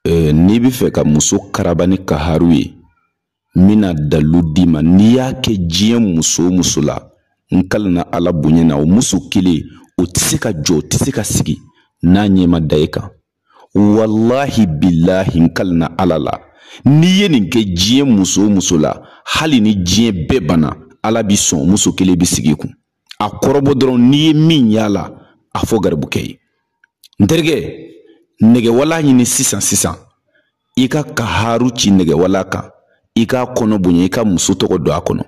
Eh, n'i bɛ fɛ ka muso karaba ni kaharu ye n bɛna dalu d'i ma n'i y'a kɛ diɲɛ muso o muso la n kalina ala bonya na o muso kelen o tɛ se ka jɔ o tɛ se ka sigi n'a ɲɛ ma da e kan walahi bilahi n kalina ala la n'i ye nin kɛ diɲɛ muso o muso la hali ni diɲɛ bɛɛ banna ala bi sɔn muso kelen bɛ sigi kun a kɔrɔbɔ dɔrɔn n'i ye min y'a la a fɔ garibukɛ ye n terikɛ nɛgɛwala ɲini sisan sisan i ka kaharu ci nɛgɛwala kan i k'a kɔnɔ bonya i ka muso tɔgɔ don a kɔnɔ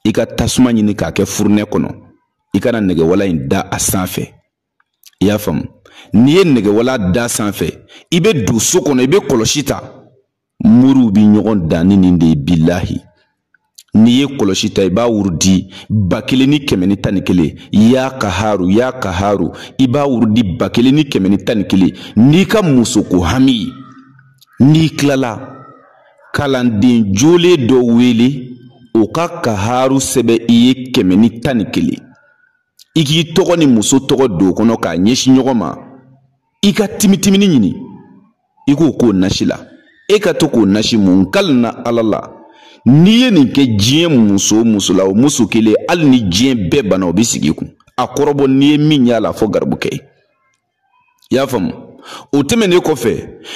i ka tasuma ɲini k'a kɛ furunɛ kɔnɔ i ka na nɛgɛwala in da a sanfɛ i y'a faamu n'i ye nɛgɛwala da sanfɛ i bɛ don so kɔnɔ i bɛ kɔlɔsi ta moriw bi ɲɔgɔn dan ni nin de ye bilahi n'i ye kɔlɔsi ta i b'a wurudi ba kelen ni kɛmɛ ni tan ni kelen ya kaharu ya kaharu i b'a wurudi ba kelen ni kɛmɛ ni tan ni kelen n'i ka musoko hami n'i kilala kalanden jolen dɔ wele o ka kaharu sɛbɛn i ye kɛmɛ ni tan ni kelen i k'i tɔgɔ ni muso tɔgɔ don kɔnɔ k'a ɲɛsin ɲɔgɔn ma i ka timitimini ɲini i k'o k'o nasi la e ka to k'o nasi mun n kalina ala la n'i ye nin kɛ diɲɛ muso o muso la o muso kelen hali ni diɲɛ bɛɛ banna o bɛ sigi kun a kɔrɔbɔ n'i ye min y'a la a fɔ garibukɛ ye i y'a faamu o tɛmɛnen kɔfɛ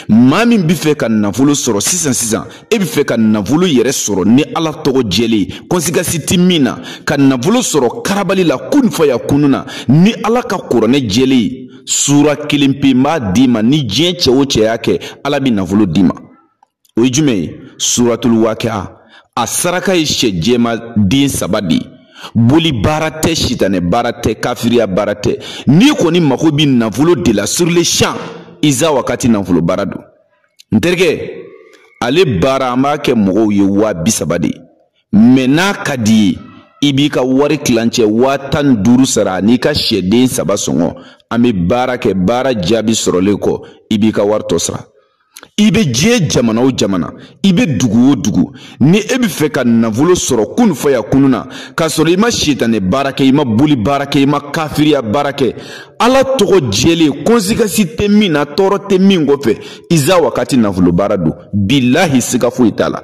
maa min bɛ fɛ ka nafolo sɔrɔ sisan sisan e bɛ fɛ ka nafolo yɛrɛ sɔrɔ ni ala tɔgɔ jɛlen ye conséquence tɛ min na ka nafolo sɔrɔ karabali la kun faya kunu na ni ala ka kuranɛ jɛlen sura kelen pe n b'a d'i ma ni diɲɛ cɛ o cɛ y'a kɛ ala bɛ nafolo d'i ma o ye jumɛn ye suratul wakia a saraka ye sɛ jɛman den saba de ye boli baara tɛ sitanɛ baara tɛ kafiriya baara tɛ n'i kɔni mago bɛ nafolo de la sur le champ iza wakati nafolo baara don n terikɛ ale baara an b'a kɛ mɔgɔw ye waa bi saba de ye mais n'a ka d'i ye i b'i ka wari kilancɛ waa tan ni duuru sara n'i ka sɛden saba sɔngɔ an bɛ baara kɛ baara jaabi sɔrɔlen kɔ i b'i ka wari tɔ sara i bɛ diɲɛ jamana o jamana i bɛ dugu o dugu ni e bɛ fɛ ka nafolo sɔrɔ kunu faya kunu na k'a sɔrɔ i ma sitanɛ baara kɛ i ma boli baara kɛ i ma kafiriya baara kɛ ala tɔgɔ jɛlen conséquence tɛ min na tɔɔrɔ tɛ min kɔfɛ iza wakati nafolo baara don bilahi siga foyi t'a la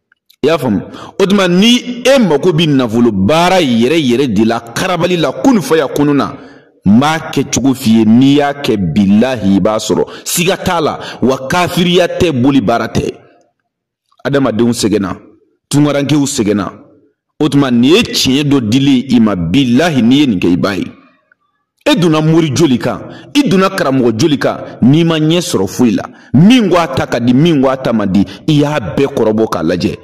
i y'a faamu o tuma ni e mago bɛ nafolo baara yɛrɛ yɛrɛ de la karabali la kunu faya kunu na n b'a kɛ cogo f'i ye n'i y'a kɛ bilahi i b'a sɔrɔ siga t'a la wa kafiriya tɛ boli baara tɛ adamadenw sɛgɛnna tungarankew sɛgɛnna o tuma nin ye tiɲɛ dɔ dili ye i ma bilahi n'i ye nin kɛ i b'a ye e donna mori joli kan i donna karamɔgɔ joli kan n'i ma ɲɛ sɔrɔ foyi la min ko a ta ka di min ko a ta man di i y'a bɛɛ kɔrɔbɔ k'a lajɛ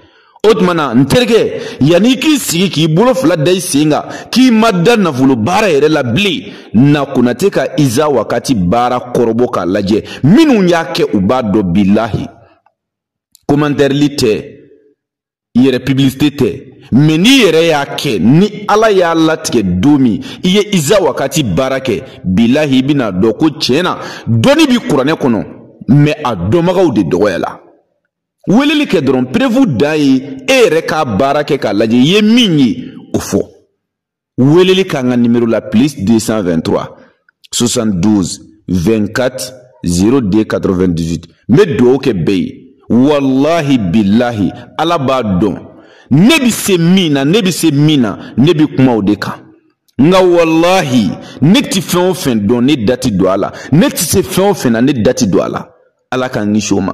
o tuma na n terikɛ yanni i k'i sigi k'i bolo fila da i sen kan k'i ma da nafolo baara yɛrɛ la bilen na konate ka iza wakati baara kɔrɔbɔ k'a lajɛ minnu y'a kɛ u b'a dɔn bilahi komantɛrili tɛ yɛrɛ pibilisite tɛ mɛ n'i yɛrɛ y'a kɛ ni ala y'a latigɛ don min i ye iza wakati baara kɛ bilahi i bɛna dɔn ko tiɲɛ na dɔnni bi kuranɛ kɔnɔ mɛ a dɔnbagaw de dɔgɔyala weleli kɛ dɔrɔn perevu dan ye e yɛrɛ k'a baara kɛ k'a lajɛ i ye min ye o fɔ Weleli k'an ka nimero la plus 223 72 24 02 98 n bɛ dugawu kɛ bɛɛ ye walahi bilahi ala b'a dɔn ne bɛ se min na ne bɛ se min na ne bɛ kuma o de kan nka walahi ne tɛ fɛn o fɛn dɔn ne da tɛ don a la ne tɛ se fɛn o fɛn na ne da tɛ don a la ala k'an kisi o ma.